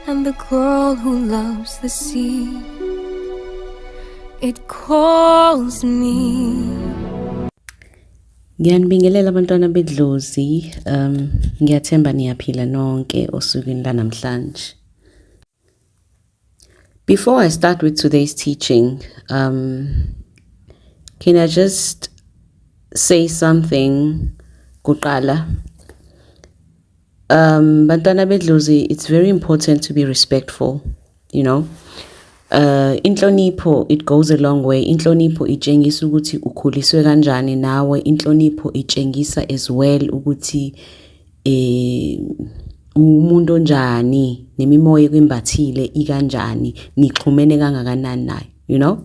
And the girl who loves the sea It calls me Ngiyanibingelela abantwana bedlozi um ngiyathemba niyaphila nonke osukwini lanamhlanje Before I start with today's teaching um can I just say something kuqala Um, bantwana bedlozi, it's very important to be respectful, you know. Uh, inhlonipho it goes a long way. Inhlonipho itshengisa ukuthi ukhuliswe kanjani nawe. Inhlonipho itshengisa as well ukuthi eh umuntu onjani nemimoya ekwimbathile ikanjani nixhumene kangakanani naye you know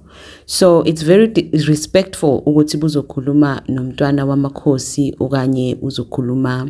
so it's very respectful ukuthi buzokhuluma nomntwana wamakhosi okanye uzokhuluma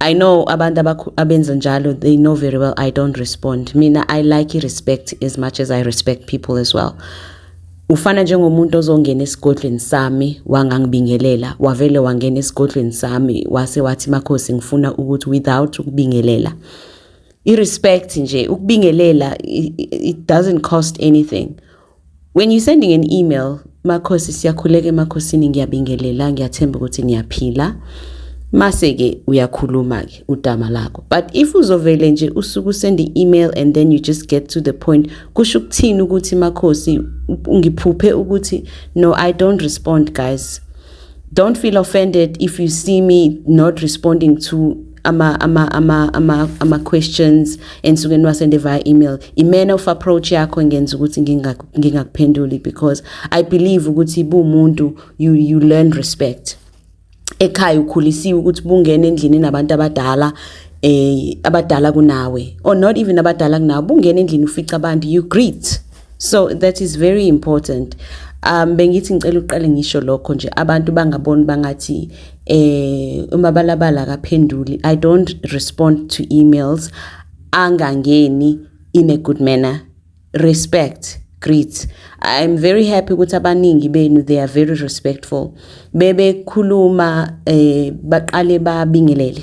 I know abantu abenza njalo they know very well I don't respond. Mina I like respect as much as I respect people as well. Ufana njengomuntu ozongena esigodlweni sami wangangibingelela wavele wangena esigodlweni sami wase wathi makhosi ngifuna ukuthi without ukubingelela. I respect nje ukubingelela it doesn't cost anything. When you sending an email, Makhosi siyakhuleka emakhosini ngiyabingelela ngiyathemba ukuthi niyaphila. Mase ke uyakhuluma ke udama lakho. But if uzovele nje usuku send email and then you just get to the point kusho ukuthini ukuthi Makhosi ngiphuphe ukuthi no I don't respond guys. don't feel offended if you see me not responding to ama ama ama ama ama questions ensuke niwasende via email i manner of approach yakho ngenza ukuthi ngingakuphenduli because i believe ukuthi bumuntu you you learn respect ekhaya ukhulisiwe ukuthi bungena endlini nabantu abadala eh abadala kunawe or not even abadala kunawe bungena endlini ufica abantu you greet so that is very important um bengithi ngicela uqale ngisho lokho nje abantu bangaboni bangathi eh umabalabala akaphenduli i don't respond to emails angangeni in a good manner respect great i'm very happy ukuthi abaningi benu they are very respectful bebekhuluma eh baqale babingelele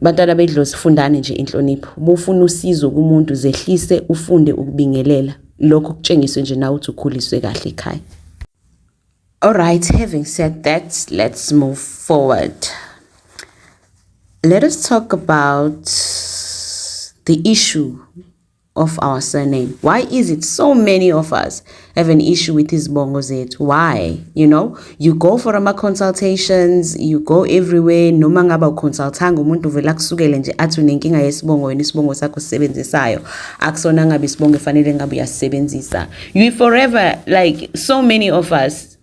bantwana bedlozi fundani nje inhlonipho bufuna usizo kumuntu zehlise ufunde ukubingelela lokho kutshengiswe nje nawe uthi ukhuliswe kahle ekhaya all right having said that let's move forward let us talk about the issue of our surname why is it so many of us have an issue with izibongo zethu why you know you go for ama consultations you go everywhere noma ngaba uconsultanga umuntu uvela kusukele nje athi unenkinga yesibongo wena isibongo sakho sisebenzisayo akusona ngabe isibongo efanele ngabe uyasisebenzisa you forever like so many of us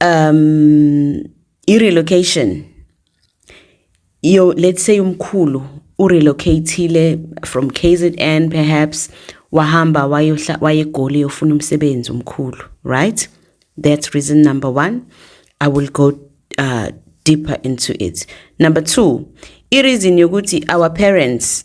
um i relocation yo let's say umkhulu u relocatile from KZN perhaps wahamba wayohla wayegoli yofuna umsebenzi umkhulu right that's reason number 1 i will go uh, deeper into it number 2 i reason yokuthi our parents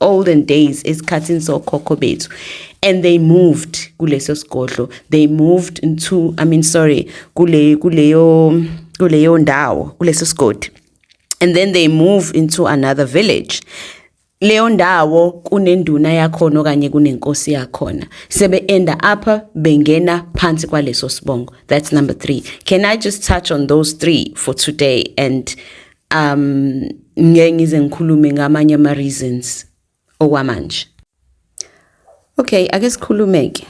olden days esikhathini sokhokho bethu and they moved kuleso sigodlo they moved into i mean sorry kule kuleyo kuleyo ndawo kuleso sigodi and then they move into another village leyo ndawo kunenduna yakhona okanye kunenkosi yakhona sebe enda up bengena phansi kwaleso sibongo that's number 3 can i just touch on those 3 for today and um ngeke ngize ngikhulume ngamanye ama reasons okwamanje okay ake sikhulumeke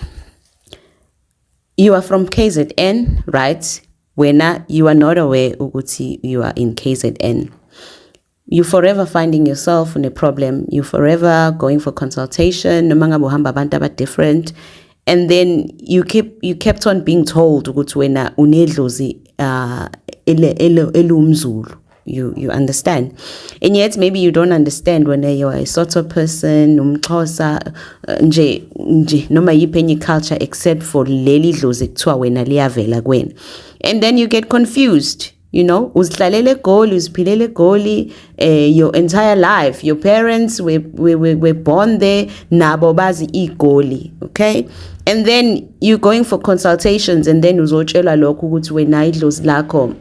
you are from KZN right wena you are not aware ukuthi you are in KZN you forever finding yourself in a problem you forever going for consultation noma ngabe uhamba abantu aba different and then you keep you kept on being told ukuthi wena unedlozi uh ele elumzulu you you understand and yet maybe you don't understand when you are a sort of person umxhosa uh, nje nje noma yiphi enye culture except for leli dlozi kuthiwa wena liyavela kwena and then you get confused you know uzihlalele egoli uziphilele egoli eh your entire life your parents were, were, were, were born there nabo bazi igoli okay and then you going for consultations and then uzotshelwa lokho ukuthi wena idlozi lakho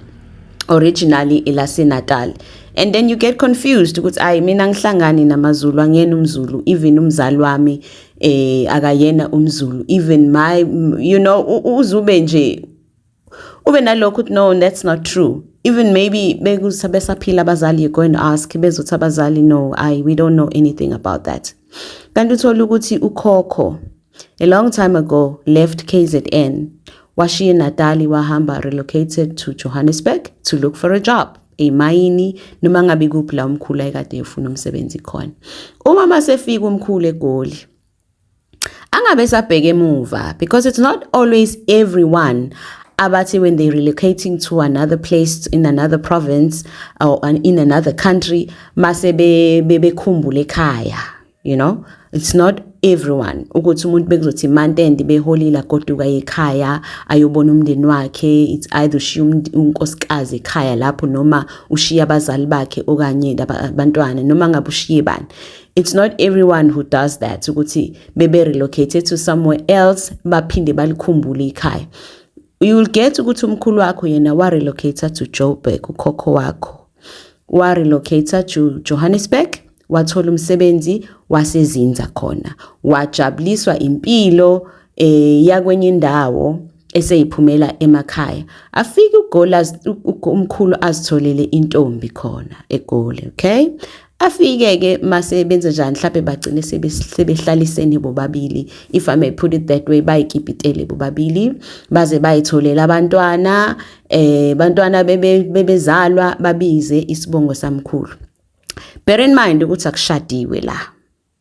originally elaseNatal and then you get confused ukuthi ayi mina ngihlangani namaZulu angiyena umZulu even umzali wami eh akayena umZulu even my you know uzube nje ube nalokho ukuthi no that's not true even maybe bekuthi besaphila abazali you go and ask bezothi abazali no i we don't know anything about that kanti uthola ukuthi ukhokho a long time ago left KZN washiye Natali wahamba relocated to Johannesburg to look for a job emayini noma ngabe kuphi la umkhulu ayekade efuna umsebenzi khona uma masefika umkhulu egoli angabe sabheka emuva because it's not always everyone abathi when they relocating to another place in another province or in another country mase bekhumbule ekhaya you know it's not everyone ukuthi umuntu bekuzothi mantende beholile agoduka ekhaya ayobona umndeni wakhe it's either ushiya unkosikazi ekhaya lapho noma ushiya abazali bakhe okanye abantwana noma ngabe ushiye bani it's not everyone who does that ukuthi bebe relocated to somewhere else baphinde balikhumbule ikhaya you will get ukuthi umkhulu wakho yena wa relocator to Joburg ukhokho wakho wa relocator to Johannesburg wathola umsebenzi wasezinza khona wajabuliswa impilo eh yakwenye indawo eseyiphumela emakhaya afike uGoli umkhulu azitholele intombi khona eGoli okay afike ke mase benze njani mhlawumbe bagcine sebehlalisene bobabili if i may put it that way bayikipitele bobabili baze bayitholela abantwana eh bantwana bebezalwa babize isibongo samkhulu bear in mind ukuthi akushadiwe la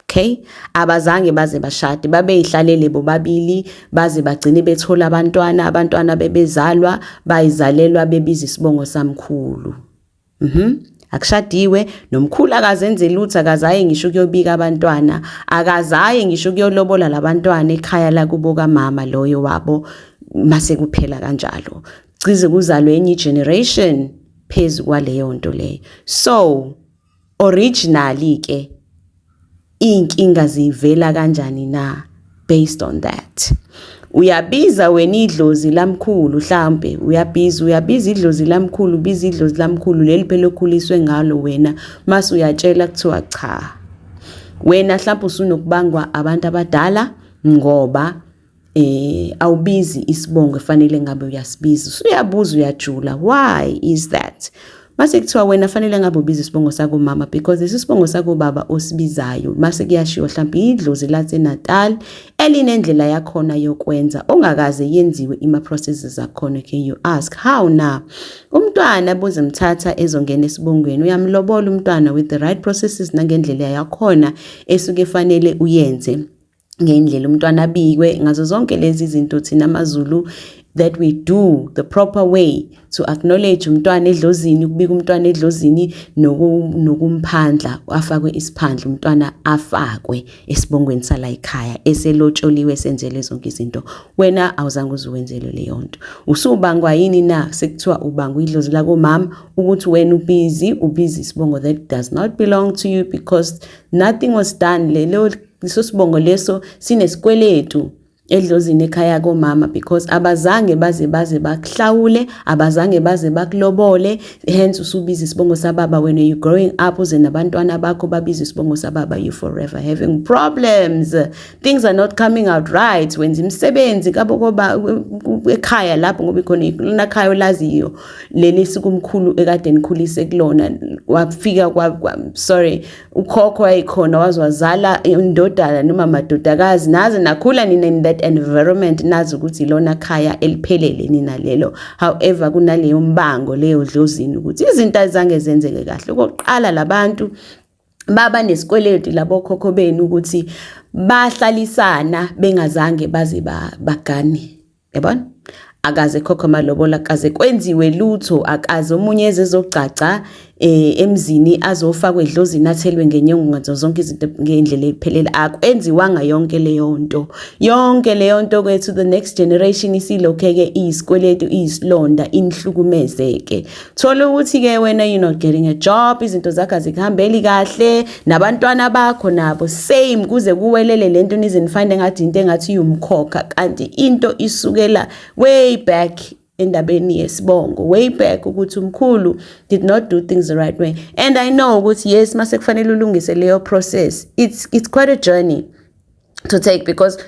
okay abazange baze bashade babeyihlalele bobabili baze bagcine bethola abantwana abantwana bebezalwa bayizalelwa bebiza isibongo samkhulu mhm akushadiwe nomkhulu akazenze lutho akazaye ngisho ukuyobika abantwana akazaye ngisho ukuyolobola labantwana ekhaya lakubo kamama loyo wabo mase kuphela kanjalo cize kuzalwe enye generation phezu kwaleyo nto leyo so Originally ke inkinga zivela kanjani na based on that. Uyabiza wena idlozi lamkhulu mhlambe uyabiza uyabiza idlozi lamkhulu biza idlozi lamkhulu leli phela okhuliswe ngalo wena mase uyatshela kuthiwa cha. Wena mhlawumbe usunokubangwa abantu abadala ngoba eh awubizi isibongo efanele ngabe uyasibiza usuyabuza uyajula why is that mase kuthiwa wena fanele ngabe ubiza isibongo sako mama because lesi sibongo sako baba osibizayo mase kuyashiwo mhlawumbe idlozi lathe Natal elinendlela yakhona yokwenza ongakaze yenziwe ima processes zakhona can you ask how na umntwana bozimthatha ezongena esibongweni uyamlobola umntwana with the right processes nangendlela yakhona esuke fanele uyenze ngendlela umntwana abikwe ngazo zonke lezi zinto thina amaZulu that we do the proper way to acknowledge umntwana edlozini ukubika umntwana edlozini nokumphandla afakwe isiphandla umntwana afakwe esibongweni sala ekhaya eselotsholiwe senzele zonke izinto wena awuzange uzuwenzelwe leyo nto usubangwa yini na sekuthiwa ubangwa idlozi lakomama ukuthi wena ubizi ubizi isibongo that does not belong to you because nothing was done lelo Leso sibongo leso sinesikweletu edlozini ekhaya komama because abazange baze baze bakuhlawule abazange baze bakulobole hence usubiza isibongo sababa when you growing up uze nabantwana bakho babiza isibongo sababa you forever having problems things are not coming out right wenza imisebenzi kabo koba ekhaya lapho ngoba ikhona lona khaya olaziyo leli sikumkhulu ekade nikhulise kulona wafika kwa sorry ukhokho wayekhona waze wazala indodana noma madodakazi naze nakhula nina in that environment nazi ukuthi ilona khaya eliphelele nina lelo however kunaleyo mbango leyo dlozini ukuthi izinto azange zenzeke kahle okokuqala labantu baba nesikweleti labo khokho benu ukuthi bahlalisana bengazange baze bagane yabona akaze khokho amalobola kaze kwenziwe lutho akaze omunye ezezogcagca eh, emzini azofakwa edlozini athelwe ngenyongo ngazo zonke izinto ngendlela ephelele akwenziwanga yonke leyo nto yonke leyo nto kwethu the next generation isilokheke isikweletu isilonda inihlukumezeke thola ukuthi ke wena you not getting a job izinto zakho azikuhambeli kahle nabantwana bakho nabo same kuze kuwelele lento nizinifinde ngathi into engathi yumkhokha kanti into isukela way back endabeni yesibongo way back ukuthi umkhulu did not do things the right way and i know ukuthi yes mase kufanele ulungise leyo process it's it's quite a journey to take because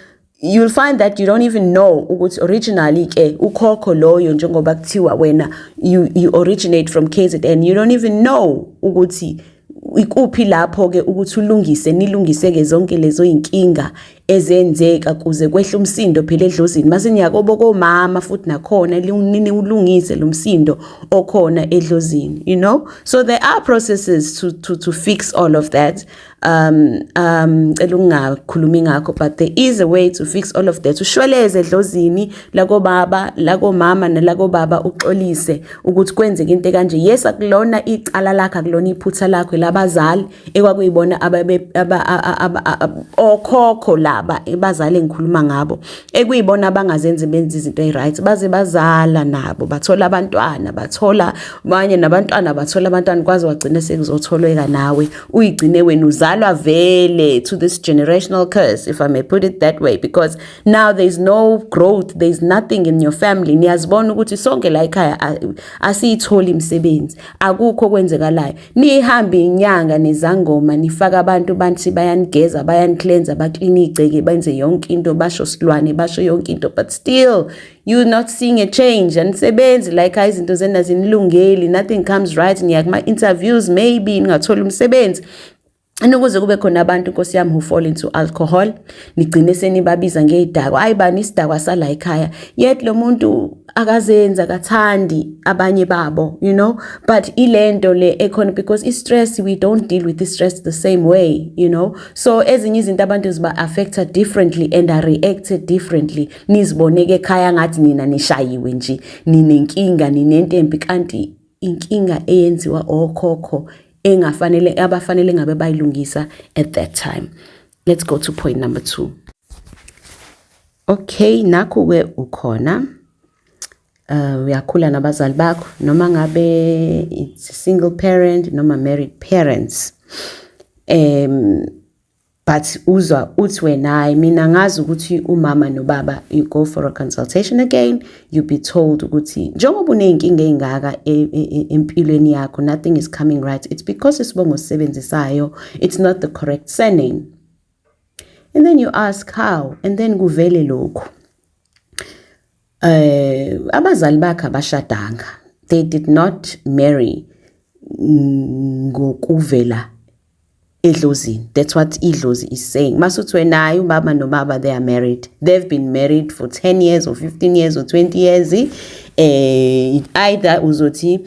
you'll find that you don't even know ukuthi originally ke ukhokho loyo njengoba kuthiwa wena you, you originate from KZN you don't even know ukuthi ikuphi lapho ke ukuthi ulungise nilungise ke zonke lezo inkinga ezenzeka kuze kwehle umsindo phela edlozini mase niyakobo komama futhi nakhona linini ulungise lo msindo okhona edlozini you know so there are processes to to to fix all of that um um cela ungakhulumi ngakho but there is a way to fix all of that ushweleze edlozini lakobaba lakomama nelakobaba uxolise ukuthi kwenzeke into kanje yes akulona icala lakhe akulona iphutha lakho labazali ekwakuyibona ababe okhokho laba ebazali engikhuluma ngabo ekuyibona abangazenzi benza izinto eziright baze bazala nabo bathola abantwana bathola abanye nabantwana bathola abantwana kwaze wagcina sekuzotholweka nawe uyigcine wena uzalwa vele to this generational curse if i may put it that way because now there is no growth there is nothing in your family niyazibona ukuthi sonke la ekhaya asiyitholi imisebenzi akukho kwenzekalayo nihambe inyanga nezangoma nifaka abantu banthi bayanigeza bayanicleansa baclean igceke benze yonke into basho silwane basho yonke into but still you not seeing a change anisebenzi like hayi izinto zena zinilungeli nothing comes right niya kuma-interviews maybe ningatholi umsebenzi anokuze kube khona abantu nkosi yami who fall into alcohol nigcine senibabiza ngeyidakwa hayi bani isidakwa sala ekhaya yet lo muntu akazenzi akathandi abanye babo you know but ilento le ekhona because i-stress we don't deal with i-stress the same way you know so ezinye izinto abantu ziba-affecta differently and are reacted differently niziboneke ekhaya ngathi nina nishayiwe nje ninenkinga ninentempi kanti inkinga eyenziwa okhokho engafanele abafanele ngabe bayilungisa at that time let's go to point number 2 okay nakho ke ukhona uh uyakhula nabazali bakho noma ngabe it's single parent noma married parents um but uzwa uthi wena hayi mina ngazi ukuthi umama nobaba you go for a consultation again you be told ukuthi njengoba uney'nkinga ey'ngaka e, e, e, empilweni yakho nothing is coming right it's because isibongo sisebenzisayo it's not the correct surname and then you ask how and then kuvele lokhu Eh abazali bakhe abashadanga. They did not marry ngokuvela edlozini. That's what idlozi is saying. Masuthi wena hayi ubaba nobaba they are married. They've been married for 10 years or 15 years or 20 years. Eh either uzothi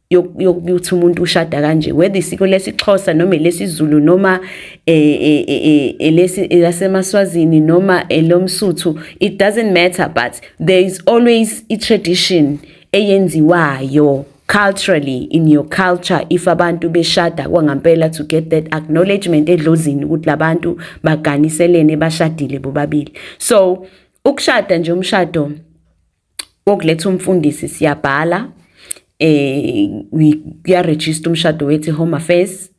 yokuthi umuntu ushada kanje whether isiko lesixhosa noma lesizulu noma e, e, e, elesi lasemaswazini noma elomsuthu it doesn't matter but there is always i tradition eyenziwayo culturally in your culture if abantu beshada kwangampela to get that acknowledgement edlozini ukuthi labantu baganiselene bashadile bobabili so ukushada nje umshado okuletha umfundisi siyabhala eh kuyaregister umshado wethi home affairs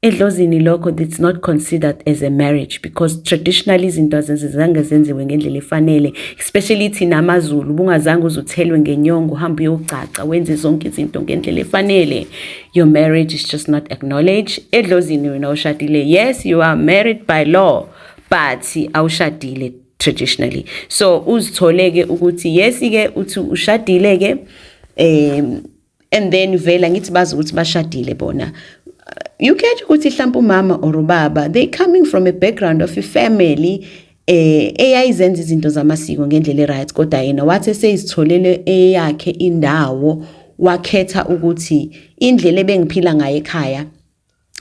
edlozini lokho it's not considered as a marriage because traditionally izinto azizange zenziwe ngendlela efanele especially thina amazulu bungazange uzuthelwe ngenyongo uhambe uyogcaca wenze zonke izinto ngendlela efanele your marriage is just not acknowledged edlozini wena ushadile yes you are married by law but awushadile traditionally so uzithole ke ukuthi yes ke uthi ushadile ke um and then vela ngithi bazi ukuthi bashadile bona you catch ukuthi mhlawumbe umama or ubaba they coming from a background of a family eh eyayizenza izinto zamasiko ngendlela eright kodwa yena wathi seyizitholele eyakhe indawo wakhetha ukuthi indlela ebengiphila ngayo ekhaya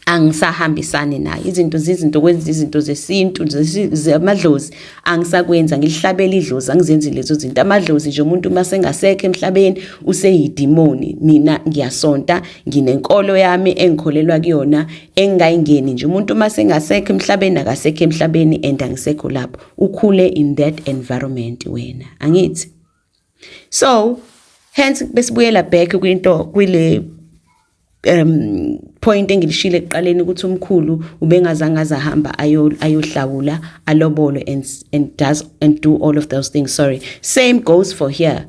angisahambisani nayo izinto zizinto kwenza izinto zesintu zamadlozi angisakwenza ngilihlabela idlozi angizenzi lezo zinto amadlozi nje umuntu uma sengasekho emhlabeni useyidimoni mina ngiyasonta nginenkolo yami engikholelwa kuyona engingayingeni nje umuntu uma sengasekho emhlabeni akasekho emhlabeni and angisekho lapho ukhule in that environment wena angithi so hence besibuyela back kwinto kwile um point engilishile ekuqaleni ukuthi umkhulu ubengazange azahamba ayohlawula alobolo and, and does and do all of those things sorry same goes for here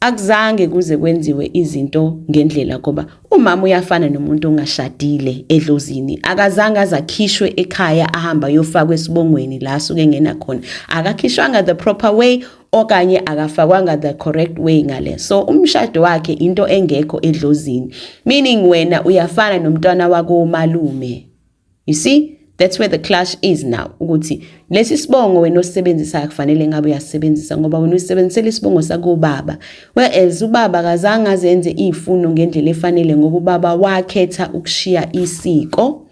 akuzange kuze kwenziwe izinto ngendlela ngoba umama uyafana nomuntu ongashadile edlozini akazange azakhishwe ekhaya ahamba yofakwa esibongweni la suke ngena khona akakhishwanga the proper way okanye akafakwanga the correct way ngale so umshado wakhe into engekho edlozini meaning wena uyafana nomntwana wako malume you see that's where the clash is now ukuthi lesi sibongo wena osebenzisa akufanele ngabe uyasebenzisa ngoba wena usebenzisela isibongo sakubaba whereas ubaba kazange azenze izifuno ngendlela efanele ngoba ubaba wakhetha ukushiya isiko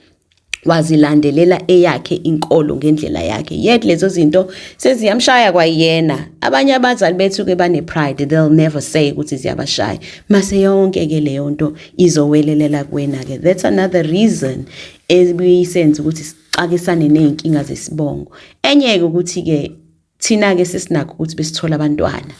wazilandelela eyakhe inkolo ngendlela yakhe yet lezo zinto seziyamshaya kwayena abanye abazali bethu ke bane pride they'll never say ukuthi ziyabashaya mase yonke ke leyo nto izowelelela kuwena ke that's another reason ebiyisenza ukuthi sixakisane nezinkinga zesibongo enye ke ukuthi ke thina ke sesinakho ukuthi besithola abantwana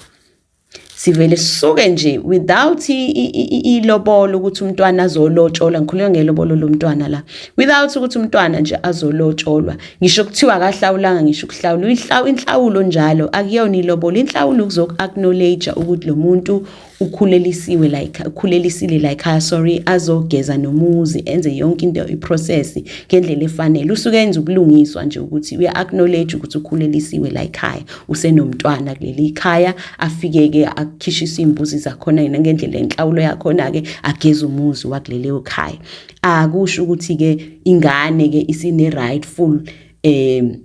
sivele sisuke nje without ilobolo ukuthi umntwana azolotsholwa ngikhuluma ngelobolo lomntwana la without ukuthi umntwana nje azolotsholwa ngisho kuthiwa akahlawulanga ngisho ukuhlawula uyihlawu inhlawulo njalo akuyona ilobolo inhlawulo ukuzoku acknowledge ukuthi lo muntu ukhulelisiwe like ukhulelisile like ha sorry azogeza nomuzi enze yonke into iprocess ngendlela efanele usuke enza ubulungiswa nje ukuthi uya acknowledge ukuthi ukhulelisiwe like haya usenomntwana kuleli khaya afike-ke akhishise iy'mbuzi zakhona yena ngendlela enhlawulo yakhona-ke ageze umuzi wakuleleyo khaya akusho ukuthi-ke ingane-ke isine-rightful um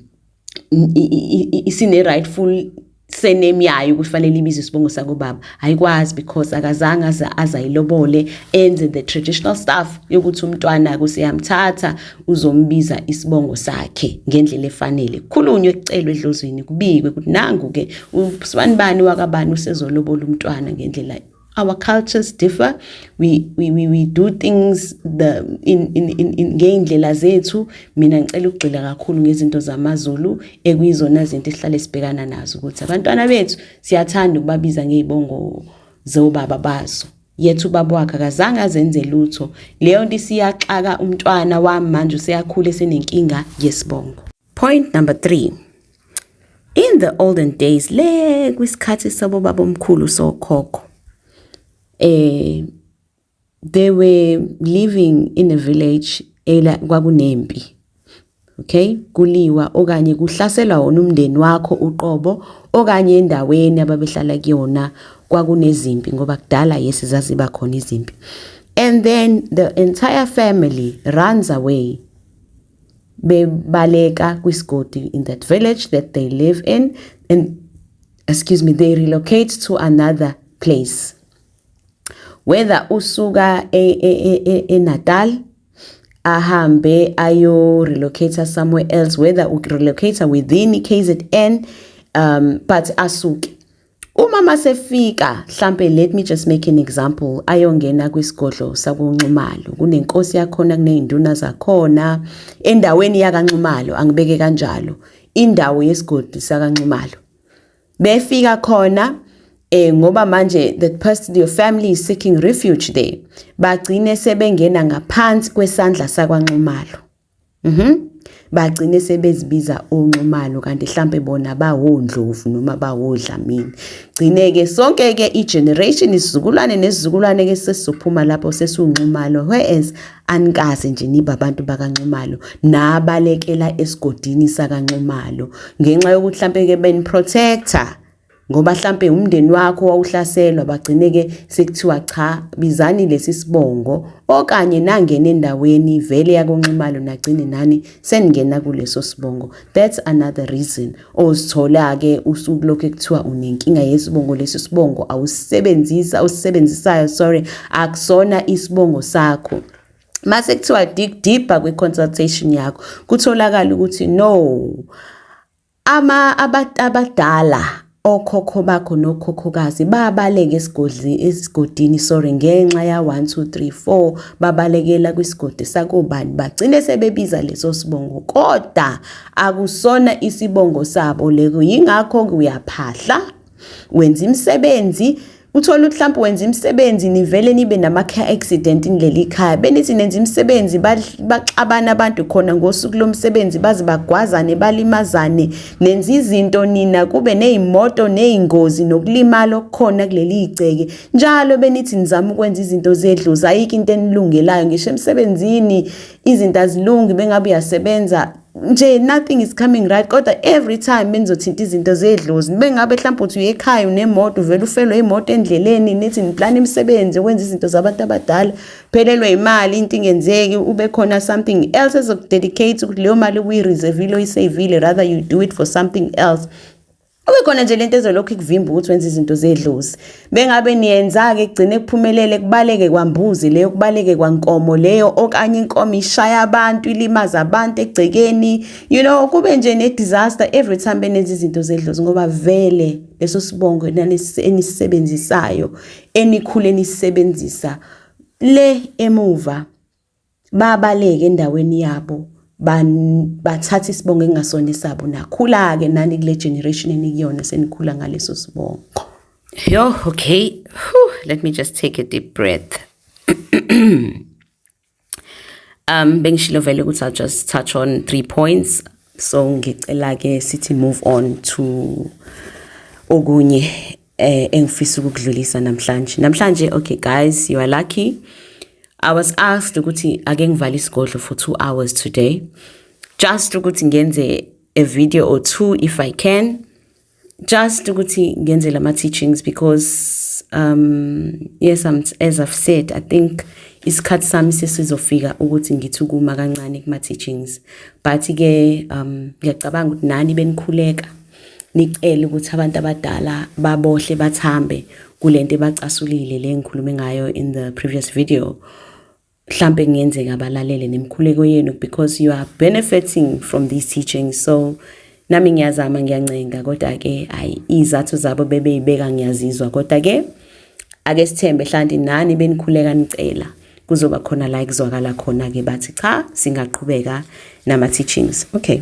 isine-rightful surname yayo kufanele ibize isibongo sakobaba ayikwazi because akazange aze azayilobole enze the traditional stuff yokuthi umntwana kuseyamthatha uzombiza isibongo sakhe ngendlela efanele khulunywe kucelwe edlozweni kubikwe ukuthi nangu-ke usibani bani wakabani usezolobola umntwana ngendlela our cultures differ we, we, we, we do things the, in, in, in, in, ngey'ndlela zethu mina ngicela ukugxila kakhulu ngezinto zamazulu ekuyizona zinto esihlale sibhekana nazo ukuthi abantwana bethu siyathanda ukubabiza ngey'bongo zobaba bazo yethu ubaba wakhe akazange azenze lutho leyo nto isiyaxaka umntwana wami manje useyakhula esenenkinga yesibongo point number 3 in the olden days le kwisikhathi sabo babomkhulu sokhokho eh they were living in a village ela kwakunempi okay kuliwa okanye kuhlaselwa wona umndeni wakho uqobo okanye endaweni ababehlala kuyona kwakunezimpi ngoba kudala yes zaziba khona izimpi and then the entire family runs away bebaleka kwisigodi in that village that they live in and excuse me they relocate to another place whether usuka eNatal e, e, e, ahambe ayo relocate somewhere else whether u relocate within KZN um but asuke uma masefika mhlambe let me just make an example ayongena kwisigodlo sakunxumalo kunenkosi yakhona kunezinduna zakhona endaweni yakanxumalo angibeke kanjalo indawo yesigodi sakanxumalo befika khona eh ngoba manje the person your family is seeking refuge there bagcine sebengena ngaphansi kwesandla sakwanxumalo mhm bagcine sebezibiza onxumalo kanti mhlambe bona bawondlovu noma bawodlamini gcine ke sonke ke i generation isizukulwane nesizukulwane ke sesizophuma lapho sesunxumalo whereas anikaze nje niba abantu bakanxumalo nabalekela esigodini sakanxumalo ngenxa yokuthi mhlampe ke ben protector ngoba mhlampe umndeni wakho wawuhlaselwa bagcine ke sekuthiwa cha bizani lesi sibongo okanye nangena endaweni vele yakonxumalo nagcine nani seningena kuleso sibongo that's another reason ozithola-ke usuku lokhu ekuthiwa unenkinga yesibongo lesi sibongo awusisebenzisa awusisebenzisayo sorry akusona isibongo sakho mase kuthiwa dig deeper kwi-consultation yakho kutholakala ukuthi no ama abadala okhokho bakho nokhokhokazi babaleke esigodli esigodini sorry ngenxa ya 1 2 3 4 babalekela kwisigodi sakobani bagcine sebebiza leso sibongo kodwa akusona isibongo sabo leko yingakho uyaphahla wenza imisebenzi Uthola ukuthi mhlawumbe wenza imisebenzi nivele nibe nama-care accident nileli ikhaya benithi nenza imisebenzi baxabana abantu khona ngosuku lomsebenzi baze bagwazane balimazane nenza izinto nina kube ney'moto ney'ngozi nokulimala okukhona kuleli igceke njalo benithi nizama ukwenza izinto zedlozi ayikho into enilungelayo ngisho emsebenzini izinto azilungi bengabe uyasebenza nje nothing is coming right kodwa every time benizothinta izinto zedlozi bengabe mhlawumbe uthi uyekhaya unemoto uvele ufelwe imoto endleleni nithi niplana imisebenzi ukwenza izinto zabantu abadala phelelwe imali into ingenzeki ube khona something else ezokudedicate ukuthi leyo mali uyireservile uyisavile rather you do it for something else Kubekhona nje lento ezolokhu ikuvimba ukuthi wenze izinto zedlozi. Bengabe niyenza ke kugcine kuphumelele kubaleke kwambuzi leyo kubaleke kwankomo leyo okanye inkomo ishaya abantu ilimaza abantu egcekeni. You know kube nje ne disaster every time benenza izinto zedlozi ngoba vele leso sibongo enisisebenzisayo enikhule nisebenzisa le emuva babaleke endaweni yabo bathatha isibongo engasona esabo nakhula-ke nani kule generation enikuyona senikhula ngaleso sibongo yo okay Whew, let me just take a deep breath um bengishilo vele ukuthi i'll just touch on three points so ngicela-ke sithi move on to okunye eh engifisa ukudlulisa namhlanje namhlanje okay guys you are lucky i was asked ukuthi ake ngivale isigodlo for 2 hours today just ukuthi ngenze a video or two if i can just ukuthi ngenze lama teachings because um yes I'm, as i've said i think isikhathi sami sesizofika ukuthi ngithi ukuma kancane kuma teachings but ke um ngiyacabanga ukuthi nani benikhuleka nicele ukuthi abantu abadala babohle bathambe kulento ebacasulile le ngikhulume ngayo in the previous video mhlambe kungenzeka balalele nemkhuleko yenu because you are benefiting from these teachings so nami ngiyazama ngiyancenga kodwa ke hayi izathu zabo bebeyibeka ngiyazizwa kodwa ke ake sithembe hlanti nani benikhuleka nicela kuzoba khona la kuzwakala khona ke bathi cha singaqhubeka nama teachings okay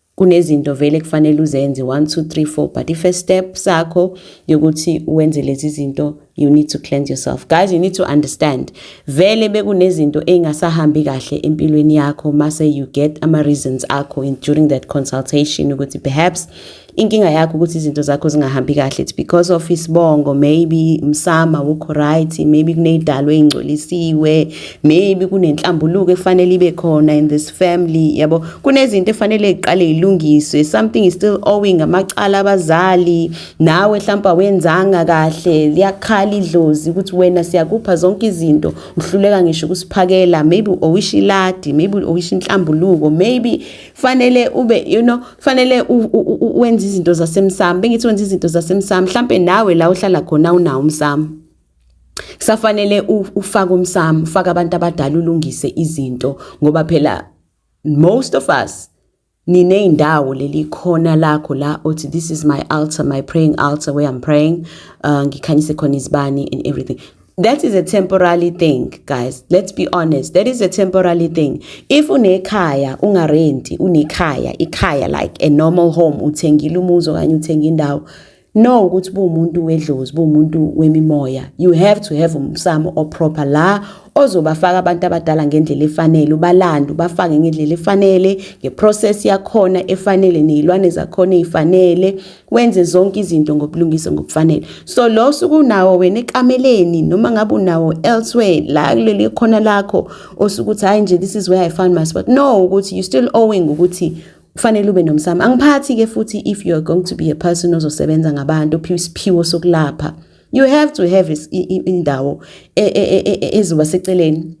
kunezinto vele kufanele uzenze 1 2 3 4 but the first step sakho yokuthi wenze lezi zinto you need to cleanse yourself guys you need to understand vele bekunezinto engasahambi kahle empilweni yakho mase you get ama reasons akho in during that consultation ukuthi perhaps inkinga yakho ukuthi izinto zakho zingahambi kahle it's because of isibongo maybe msama wukho right maybe kuneyidalwe ingcolisiwe maybe kunenhlambuluko efanele ibe khona in this family yabo kunezinto efanele iqale ilungiswe something is still owing amacala abazali nawe mhlawumbe awenzanga kahle liyakhala idlozi ukuthi wena siyakupha zonke izinto uhluleka ngisho ukusiphakela maybe owisha iladi maybe owisha inhlambuluko maybe fanele ube you know fanele wenza izinto zasemsamo bengithi wenza izinto zasemsamo mhlambe nawe la uhlala khona unawo umsamo safanele ufake umsamo ufake abantu abadala ulungise izinto ngoba phela most of us nineyindawo leli khona lakho la othi this is my altar my praying altar where i'm praying uh, ngikhanyise khona izibani and everything that is a temporary thing guys let's be honest that is a temporary thing if unekhaya ungarenti unekhaya ikhaya like a normal home uthengile umuzi okanye uthenga indawo no ukuthi buwumuntu wedlozi buwumuntu wemimoya you have to have umsamo oproper la ozobafaka abantu abadala ngendlela efanele ubalande ubafake ngendlela efanele ngeprocess yakhona efanele nezilwane zakhona ezifanele wenze zonke izinto ngobulungisa ngokufanele so lo suku nawo wena ekameleni noma ngabe unawo elsewhere la kuleli khona lakho osukuthi hayi nje this is where i found my spot no ukuthi you still owing ukuthi kufanele ube nomsamo angiphathi ke futhi if you are going to be a person ozosebenza ngabantu ophiwa isiphiwo sokulapha you have to have indawo e, e, e, ezoba seceleni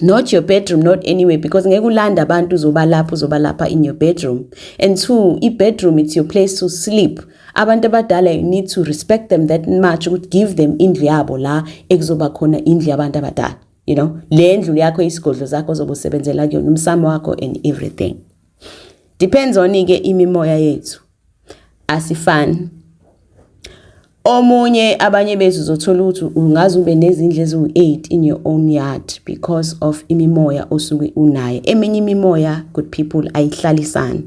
not your bedroom not anywhere because ngeke ulanda abantu uzobalapha uzobalapha in your bedroom and two i-bedroom it's your place to sleep abantu abadala you need to respect them that much ukuthi give them indlu yabo la ekuzoba khona indlu yabantu abadala you know le ndlu yakho isigodlo zakho zobusebenzela kuyona umsamo wakho and everything depends on ke imimoya yethu asifani omunye abanye bethu uzothola ukuthi ungaze ube nezindlu eziwu-8 in your own yard because of imimoya osuke unayo eminye imimoya good people ayihlalisani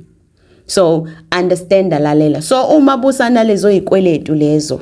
so understand alalela so uma busanalezo yikweletu lezo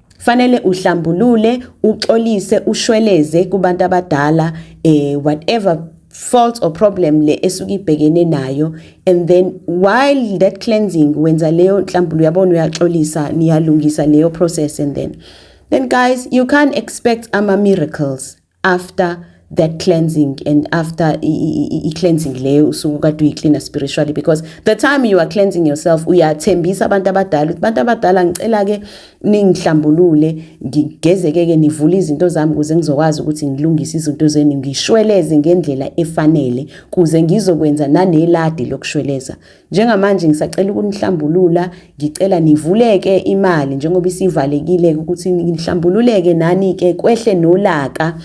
fanele uhlambulule uxolise ushweleze kubantu abadala eh whatever fault or problem le esuke ibhekene nayo and then while that cleansing wenza leyo nhlambulu yabona uyaxolisa niyalungisa leyo process and then then guys you can't expect ama miracles after that cleansing and after i-cleansing leyo usuku kade uyiklina spiritually because the time you are cleansing yourself uyathembisa abantu abadala ukuthi abantu abadala ngicela-ke ningihlambulule ngigezekeke nivule izinto zami ukuze ngizokwazi ukuthi ngilungise izinto zenu ngishweleze ngendlela efanele kuze ngizokwenza naneladi lokushweleza Njengamanje ngisacela ukunihlambulula, ngicela nivuleke imali njengoba isivalekile ukuthi nihlambululeke nani ke kwehle nolaka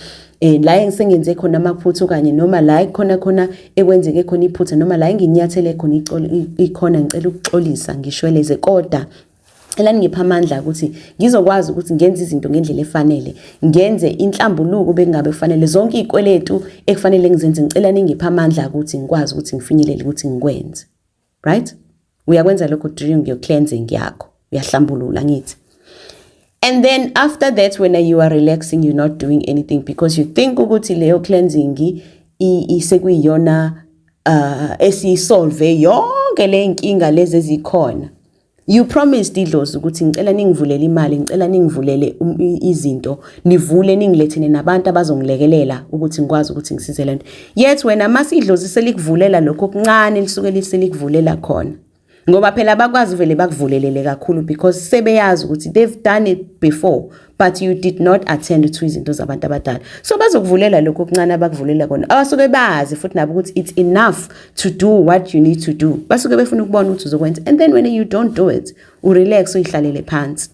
eh la engisengenze khona amaphutha okanye noma la ikhona khona ekwenzeke khona iphutha noma la enginyathele khona ikhona ngicela ukuxolisa ngishweleze kodwa Cela ningipha amandla ukuthi ngizokwazi ukuthi ngenze izinto ngendlela efanele, ngenze inhlambuluko bekungabe kufanele zonke izikweletu ekufanele ngizenze ngicela ningipha amandla ukuthi ngikwazi ukuthi ngifinyelele ukuthi ngikwenze. Right? Uyakwenza lokho during your cleansing yakho. Uyahlambulula ngithi. And then after that when you are relaxing you're not doing anything because you think ukuthi leyo cleansing isekuyiyona uh esisolve yonke le nkinga lezi ezikhona. You promised idlozi ukuthi ngicela ningivulele imali, ngicela ningivulele um, izinto, nivule ningilethene nabantu abazongilekelela ukuthi ngikwazi ukuthi ngisize lento. Yet wena mase idlozi selikuvulela lokho kuncane lisuke liselikuvulela khona. Ngoba phela abakwazi vele bakuvulelele kakhulu because sebeyazi ukuthi they've done it before. but you did not attend to izinto zabantu abadala so bazokuvulela lokho okuncane abakuvulela kona abasuke bazi futhi nabo ukuthi it's enough to do what you need to do basuke befuna ukubona ukuthi uzokwenza and then when you don't do it urelax uyihlalele phansi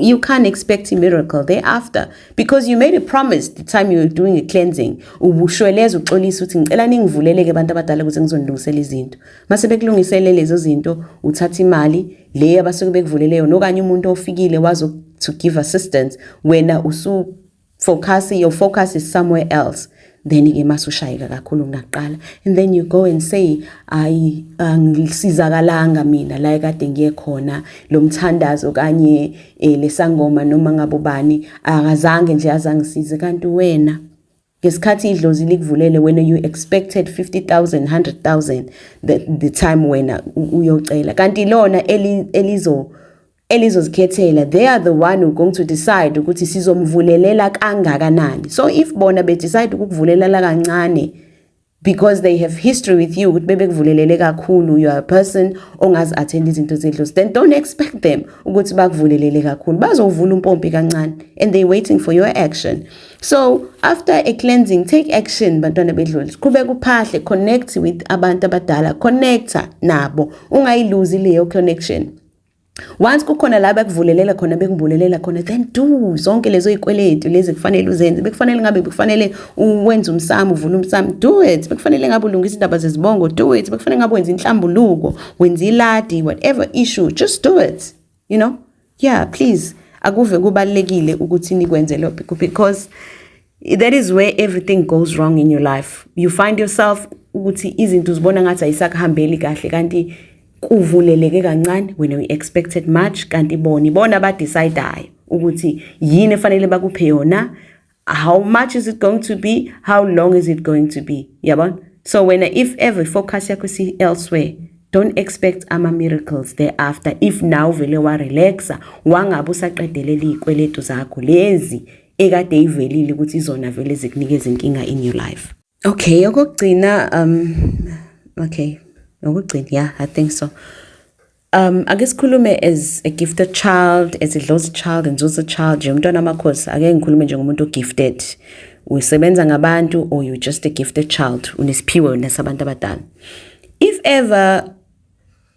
you can't expect a miracle thereafter because you made a promise the time you were doing a cleansing ubushweleza uxolisa ukuthi ngicela ningivuleleke abantu abadala ukuze ngizonilungisela izinto Mase bekulungisele lezo zinto uthatha imali le abasuke bekuvulele yona okanye umuntu ofikile wazo to give assistance wena usu focus your focus is somewhere else then ke masushayeka kakhulu kunaqala and then you go and say ayi angisizakalanga mina la kade ngiye khona lomthandazo kanye eh, lesangoma noma ngabobani akazange nje azangisize kanti wena ngesikhathi idlozi likuvulele wena you expected 50000 100000 the, the time wena uyocela kanti lona elizo elizozikhethela they are the one who going to decide ukuthi sizomvulelela kangakanani so if bona be decide ukukuvulelela kancane because they have history with you ukuthi bebekuvulelele kakhulu you are a person ongazi attend izinto zedlozi then don't expect them ukuthi bakuvulelele kakhulu bazovula umpompi kancane and they waiting for your action so after a cleansing take action bantwana bedlozi qhubeka uphahle connect with abantu abadala connecta nabo ungayiluzi leyo connection once kukhona la bekuvulelela khona bekungibulelela khona then do zonke lezo ikweletu lezi kufanele uzenze bekufanele ngabe bekufanele wenze umsamo uvule umsamo do it bekufanele ngabe ulungisa indaba zezibongo do it bekufanele ngabe wenza inhlambuluko wenza iladi whatever issue just do it you know yeah please akuve kubalekile ukuthi nikwenze lokho because that is where everything goes wrong in your life you find yourself ukuthi izinto uzibona ngathi ayisakuhambeli kahle kanti kuvuleleke kancane wena we expected much kanti bona ibona abadecidayo ukuthi yini efanele bakuphe yona how much is it going to be how long is it going to be yabona so wena if ever focus yakho si elsewhere don't expect ama miracles thereafter if now vele wa relaxa wangabe usaqedelela izikweletu zakho lezi ekade ivelile ukuthi izona vele zikunikeza inkinga in your life okay okugcina um okay nokugcina yeah i think so um ake sikhulume as a gifted child as a lost child and also child nje umntwana amakhosi ake ngikhulume njengomuntu ogifted usebenza ngabantu or you just a gifted child unesiphiwo nasabantu abadala if ever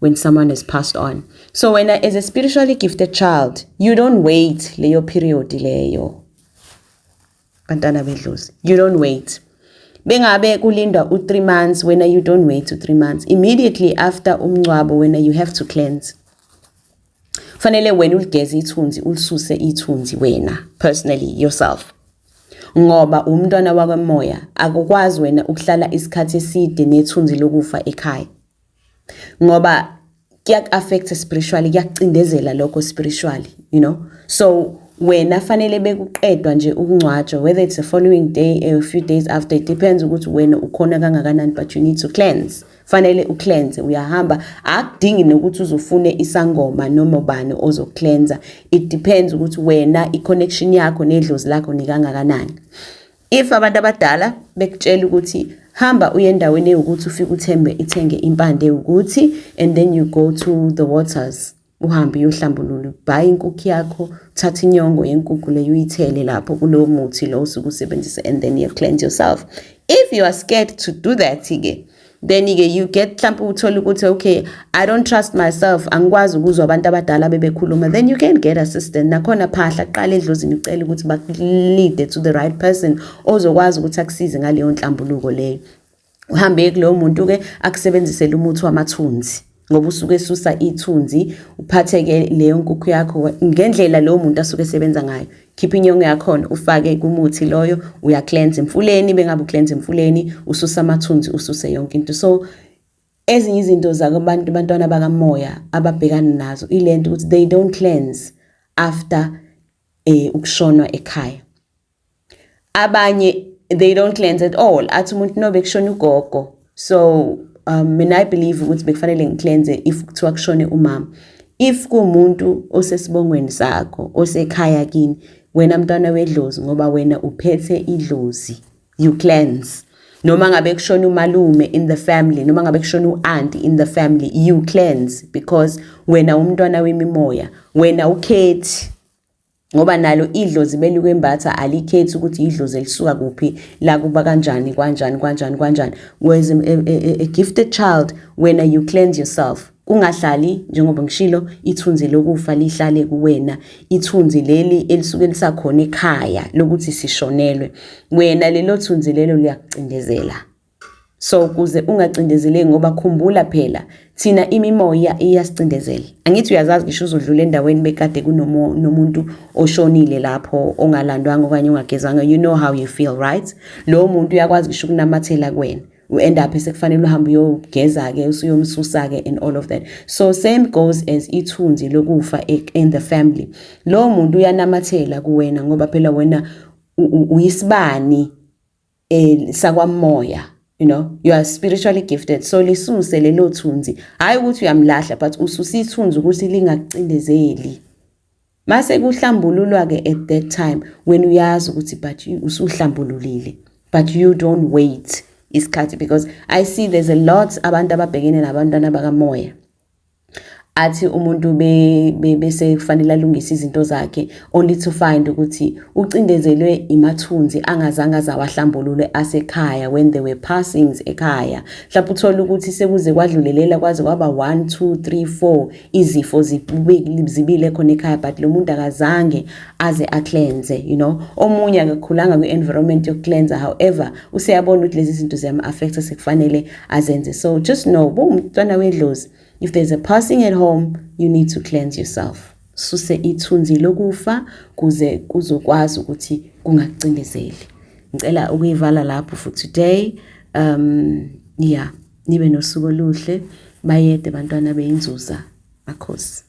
when someone has passed on so when as a spiritually gifted child you don't wait leyo period leyo bantana bedlozi you don't wait bengabe kulindwa u3 months when you don't wait to 3 months immediately after umncwabo when you have to cleanse fanele wena uligeze ithunzi ulisuse ithunzi wena personally yourself ngoba umntwana wakamoya akukwazi wena ukuhlala isikhathi eside nethunzi lokufa ekhaya ngoba kuyaku-affect spiritually kuyakucindezela lokho spiritually you know so wena fanele bekuqedwa nje ukungcwatshwa whether it's the following day a few days after it depends ukuthi wena ukhona kangakanani but you need to cleanse fanele ucleanse uyahamba akudingi nokuthi uzofune isangoma noma ubani ozocleansa it depends ukuthi wena i-connection yakho nedlozi lakho nikangakanani if abantu abadala bekutshela ukuthi hamba uye endaweni ewukuthi ufike uthembe ithenge impande ewukuthi and then you go to the waters uhambe uyohlambulula ubhaye inkukhu yakho uthathe inyongo yenkukhu leyo uyithele lapho kulowo muthi lo osuke usebenzisa and then you cleanse yourself if you are scared to do that-ke then ke you get mhlawumbe uthole ukuthi okay i don't trust myself angikwazi ukuzwa abantu abadala bebekhuluma then you can get assistance nakhona phahla kuqala edlozini ucela ukuthi bakulead to the right person ozokwazi ukuthi akusize ngaleyo nhlambuluko leyo uhambe kulowo muntu ke akusebenzisele umuthi wamathunzi ngoba usuke esusa ithunzi uphatheke leyo nkukhu yakho ngendlela lowo muntu asuke esebenza ngayo khipha inyongo yakhona ufake kumuthi loyo uyacleanse emfuleni bengabe ucleanse emfuleni ususa amathunzi ususe yonke into so ezinye izinto zakubantu bantwana bakamoya ababhekana nazo ilento ukuthi they don't cleanse after eh ukushonwa ekhaya abanye they don't cleanse at all athi umuntu no bekushona ugogo so um mina i believe ukuthi bekufanele ngicleanse if kuthiwa kushone umama if kumuntu osesibongweni sakho osekhaya kini wena mntwana wedlozi ngoba wena uphethe idlozi you cleanse noma ngabe kushona umalume in the family noma ngabe kushona uanti in the family you cleanse because wena umntwana wemimoya wena ukhethi ngoba nalo idlozi belikwembatha alikhethi ukuthi idlozi elisuka kuphi la kuba kanjani kwanjani kwanjani kwanjani whereas a, a, a gifted child wena you cleanse yourself kungahlali njengoba ngishilo ithunzi lokufa lihlale kuwena ithunzi leli elisuke lisakhona ekhaya lokuthi sishonelwe wena lelo thunzi lelo liyakucindezela so kuze ungacindezeleki ngoba khumbula phela thina imimoya iyasicindezela angithi uyazazi ngisho uzodlula endaweni bekade kunomuntu oshonile lapho ongalandwanga okanye ongagezanga you know how you feel right lowo muntu uyakwazi ngisho ukunamathela kuwena u-end up sekufanele uhambe uyogeza-ke usuyomsusa-ke and all of that so same goes as ithunzi lokufa in the family lowo muntu uyanamathela kuwena ngoba phela wena uyisibani eh sakwamoya you know you are spiritually gifted so lisuse lelo thunzi hayi ukuthi uyamlahla but ususa ithunzi ukuthi lingakucindezeli mase kuhlambululwa ke at that time when uyazi ukuthi but usuhlambululile but you don't wait isikhathi because i see there's a lot abantu ababhekene nabantwana bakamoya athi umuntu bese kufanele alungise izinto zakhe only to find ukuthi ucindezelwe imathunzi angazange azawahlambulule asekhaya when they were passings ekhaya mhlawumbe uthole ukuthi sekuze kwadlulelela kwaze kwaba 1 2 3 4 izifo zibile khona ekhaya but lo muntu akazange aze acleanse you know omunye akakhulanga kwi-environment yokucleansa however useyabona ukuthi lezi zinto ziyam-affecta sekufanele azenze so just know uba umntwana wedlozi if there's a passing at home you need to cleanse yourself suse ithunzi lokufa kuze kuzokwazi ukuthi kungakucindezeli ngicela ukuyivala lapho for today um yeah nibe nosuku oluhle bayede bantwana beyinzuza akhosi